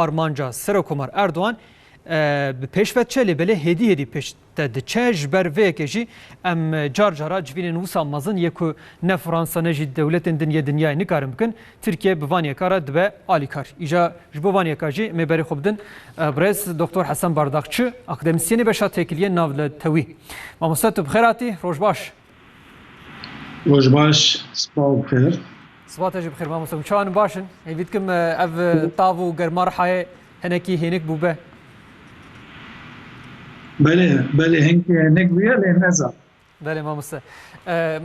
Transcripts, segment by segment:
Armanca Serokomar Erdogan bi pêş ve diçe lê belê hêdî hêdî pêş te diçe ji ber vê yekê jî em car cara civînên wisa mezin yê ku ne Fransa ne jî dewletên din yê dinyayê nikarin bikin Tirkiye bi van yeka re dibe alîkar. Îja ji bo van yeka jî em ê berê xwe bidin birêz Doktor Hesen Bardakçi, akademisyenê beşa têkiliyên navletewî. Mamoste tu bi xêr hatî, roj baş. Roj baş, spa û bi xêr. Spa te jî bi xêr mamoste min. Çawa min baş in? Hêvî dikim ev tav û germa Rihayê hinekî hênik bûbe. Belê, belê hinkî hênik bûye lê ne zaf. Belê mamoste.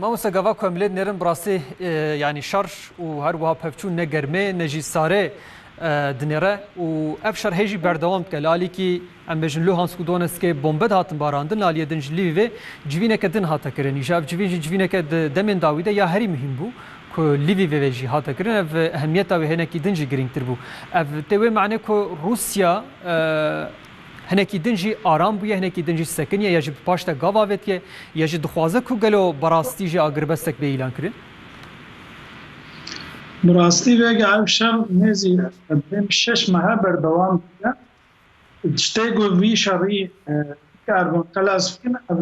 Mamoste gava ku em lê dinêrin bi rastî yanî şer û her wiha pevçûn ne germê ne jî sarê dinêre û ev şer hê jî berdewam dike. Li alîkî Em bêjin Luhansk û Donetskê bombe dihatin barandin li aliyê din ji Lvivê civîneke din hate kirin. Îşa ev civîn jî civîneke di demên dawî de ya herî muhîm bû ku Lvivê ve jî hate kirin ev ehemiyeta wê hinekî din jî girîngtir bû. Ev tê wê manê ku Rûsya hinekî din jî aram bûye, hinekî din jî sekin ye ya jî bi paş de gav avêtiye ya jî dixwaze ku gelo bi rastî jî agirbestek bê îlan kirin? Bi rastî vega ev şer nêzî ev dêm şeş mehe berdewam dibe. Tiştê ku vî şerî bikaribin qelas bikin ev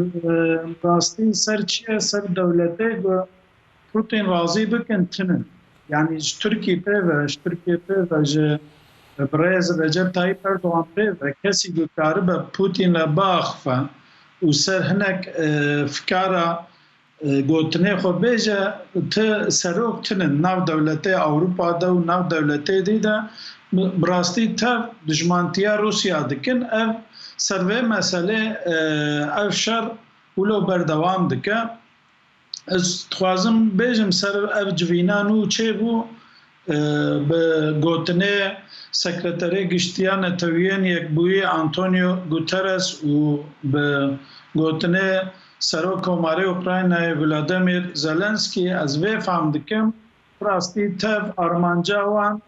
rastî ser çi ye ser dewletê ku Pûtîn razî bikin tune ye. Yanî ji Tirkî pê ve ji Tirkiyê pê ve ji birêz Recep Tayîp Erdogan pê ve kesî ku karibe Pûtîn li ba axife û ser hinek fikara Gotinê xwe bêje, ti serok tune di nav dewletê Ewropa de û nav dewletê dî de bi rastî tev dijmantiya Rûsya dikin. Ev ser vê meselê ev şer wilo berdewam dike. Ez dixwazim bêjim ser ev civîna nû çêbû Bi gotinê Sekreterê Giştiya Neteweyên Yekbûyî Antonio Guterres û bi gotinê Serok Komarê Ukraynayê Vladimir Zelensky ez vê fam dikim, bi rastî tev armanca wan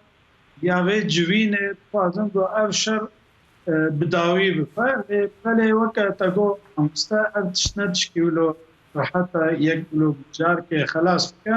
ya vê civînê dixwazin ku ev şer bi dawî bife lê belê weke te got mamoste ev tişt ne tişkî wilo rehet e yek bloc carkê xelas bike.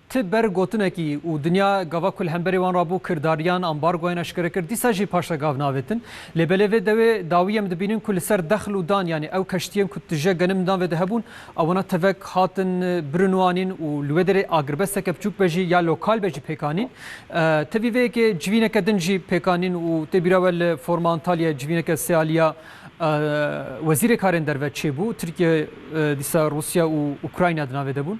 Ti ber gotinekî û dinya gava ku li hemberî wan re bû kirdariyan, ambargoyan eşkere kir, dîsa jî paşre gav navêtin. Lê belê vê dewê dawî em dibînin ku li ser dexl û dan yanî ew keştiyên ku tije genim dan ve de hebûn ewena tevek hatin birûnwanîn û li wê derê agirbesteke biçûk be jî ya lokal be jî pêk anîn. Tevî vê yekê civîneke din jî pêk anîn û tê bîra we li forma Antalyayê civîneke sê aliya Wezîrê Karên Derve çêbû. Tirkiye dîsa Rûsya û Ukrayna di navê de bûn.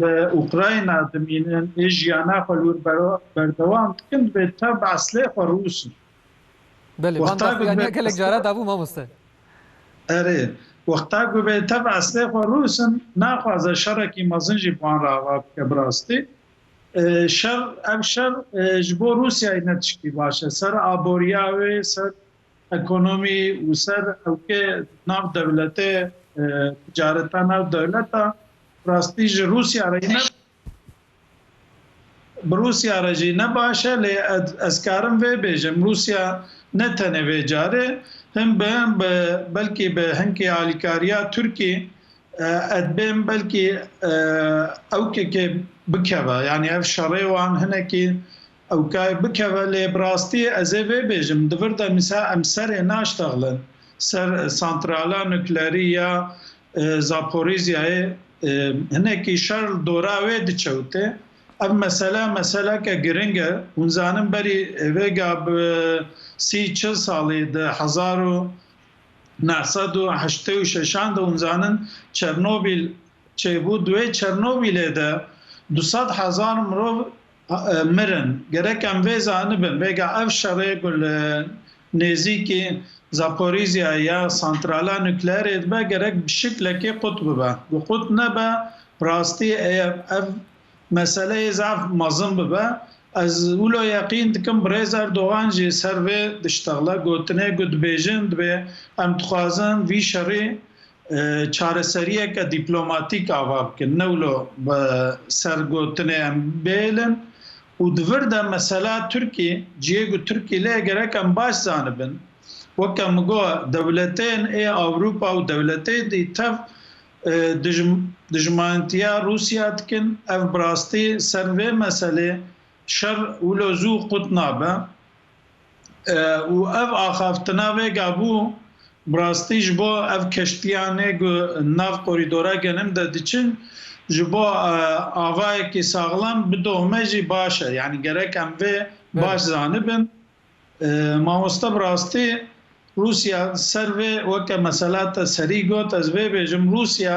li Ukrayna dimînin ê jiyana xwe li wir berdewam dikin divê tevb eslê xwe rûs in. Belê van daxuyaniya gelek caran dabû mamoste. Erê, wexta ku vê tevb eslê xwe rûs in naxwaze şerekî mezin jî bi wan re ava bike bi rastî. Şer ev şer ji bo Rûsyayê ne tişkî baş e. Ser aboriya wê, ser ekonomî û ser ewkê nav dewletê ticareta nav dewleta rastî ji Rûsya re ne bi Rûsya re jî ne baş e lê ez karim vê bêjim Rûsya ne tenê vê carê hin bi hin bi belkî bi hinkî alîkariya Tirkî ed bên belkî ewkekê bikeve yanî ev şerê wan hinekî Ew ka bikeve lê bi rastî ez ê vê bêjim di vir de misa em serê naştexlin ser santrala nuklerî ya Zaporizhiyayê hinekî şer li dora wê dikewtê. Ev mesele meseleke giring e. Hûn zanin berî rêga bi sî çil salî di hezar û neh sed û heştê û şeşan de hûn zanin Çernobîl çêbû di wê Çernobîlê de du sed hezar mirov mirin. Gerek em vê zanibin, rêga ev şerê ku li nêzîkî Zaporizhiyayê ya santrala nukleerê dibe gerek bi şiklekê qut bibe. Ku qut nebe, rastî eyer ev meseleyê zaf mezin bibe. Ez wilo yeqîn dikim birêz Erdogan jî ser vê diştexle gotinê ku dibêjin dibê em dixwazin vî şerî çareseriyeke dîplomatîk ava bikin ne wilo bi ser gotinê em bihêlin û di vir de mesela Tirkî ciyê ku Tirkî lê gerek em baş zanibin weke min got dewletên ê Ewropa û dewletên dî tev dijmantiya Rûsya dikin ev bi rastî ser vê meselê şer wilo zû qut nabe. Û ev axaftina vêga bû bi rastî ji bo ev keştiyanê ku nav korîdora genim de diçin ji bo avayekî saxlam bidohme jî baş e. Yanî gerek em vê baş zanibin. Mamoste bi rastî Rûsya ser vê weke mesela te serî got ez vê bêjim Rûsya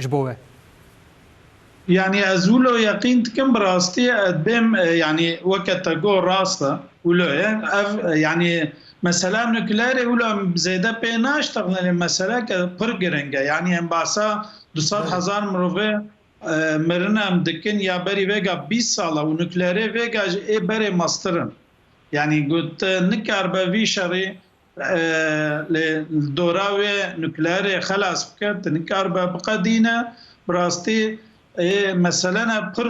ji bo we. Yanî ez wilo yeqîn dikim bi rastî bêm yanî weke te got rast e wilo ye ev yanî mesela nukleerê wilo em zêde pê naştexînin lê meseleke pir giring e yanî em basa du sed hezar mirovê mirine em dikin ya berî vêga bîst sal e û nukleerê vêga jî ê berê meztir in yanî got nikaribe vî şerî Lê dora wê nukleerê xelas bike tu nikaribe biqedîne. Bi rastî ê meselene pir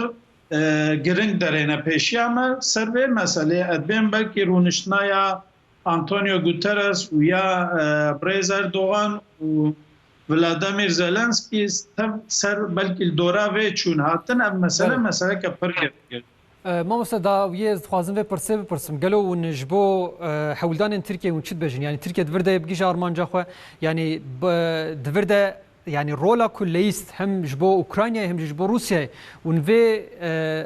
giring derêne pêşiya me. Ser vê meselê ez bên belkî rûniştina ya Antonio Guterres û ya birêz Erdogan û Vladimir Zelensky tev ser belkî li dora vê çûn hatin. Ev mesele meseleke pir giring e. Mamoste dawiyê ez dixwazim vê pirsê bipirsim, gelo hûn ji bo hewldanên Tirkiyeyê hûn çi dibêjin? Yanî Tirkiye di vir de yê bigihîje armanca xwe? Yanî di vir de yanî rola ku leyîst hem ji bo Ukraynayê hem jî ji bo Rûsyayê hûn vê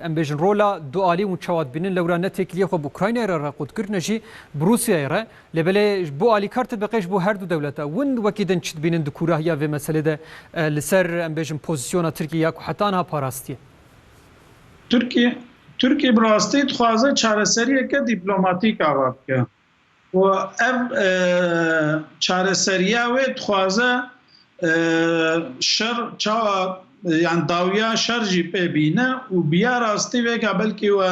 em bêjin rola dualî hûn çawa dibînin? Lewra ne têkiliyê xwe bi Ukraynayê re re qut kir ne jî bi Rûsyayê re. Lê belê ji bo alîkar te biqê ji bo her du dewlet e. Hûn wekî din çi dibînin di kûrahiya vê meselê de li ser em bêjin pozîsyona Tirkiyeyê ya ku heta niha parastiye? Tirkiye Tirkiye bi rastî dixwaze çareseriyeke dîplomatîk ava bike û ev çareseriya wê dixwaze şer çawa yan dawiya şer jî pê bîne û bi ya rastî vêga belkî we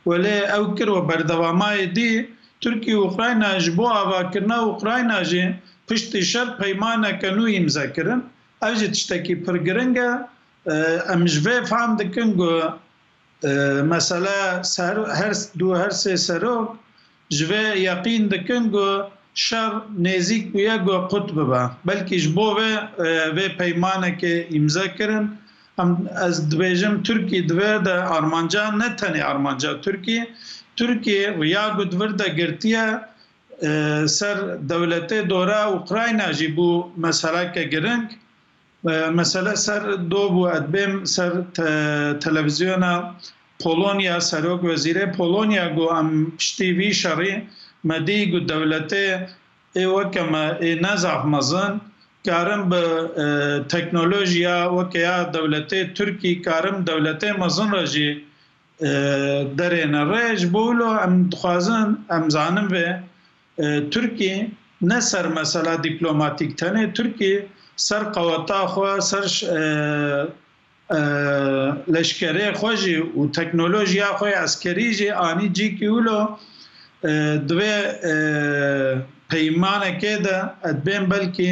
welê ew kir û berdevamayê dî Tirkiye û Ukrayna ji bo avakirina Ukrayna jî piştî şer peymaneke nû îmze kirin. Ev jî tiştekî pir giring e Em ji vê fehm dikin ku mesele du her sê serok ji vê yeqîn dikin ku şer nêzîk bûye ku qut bibe. Belkî ji bo vê vê peymanekê îmze kirin. Em ez dibêjim Tirkî di vir de armanca ne tenê armanca Tirkî, Tirkî riya ku di vir de girtiye ser dewletê dore Ukrayna jî bû meseleke giring. Mesele ser do bû ez bêm ser televizyona Polonya serok wezîrê Polonya got em piştî vî şerî me dî got dewletê ê weke me ê ne zaf mezin karin bi teknolojiya weke ya dewletê Tirkî karin dewletê mezin re jî derêne rê ji bo wilo em dixwazin em zanin vê Tirkiyê ne ser mesela dîplomatîk tenê Tirkiyê ser qeweta xwe, ser leşkerê xwe jî û teknolojiya xwe ya eskerî jî anî cî kî wilo di vê peymanekê de edbên belkî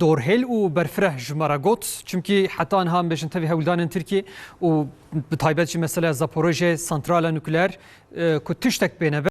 Dorhêl û berfireh ji me re got, çimkî heta niha em bêjin tevî hewldanên Tirkiyê û bi taybet jî meseleya Zaporojyeyê, santrala nukleer ku tiştek pê nebe,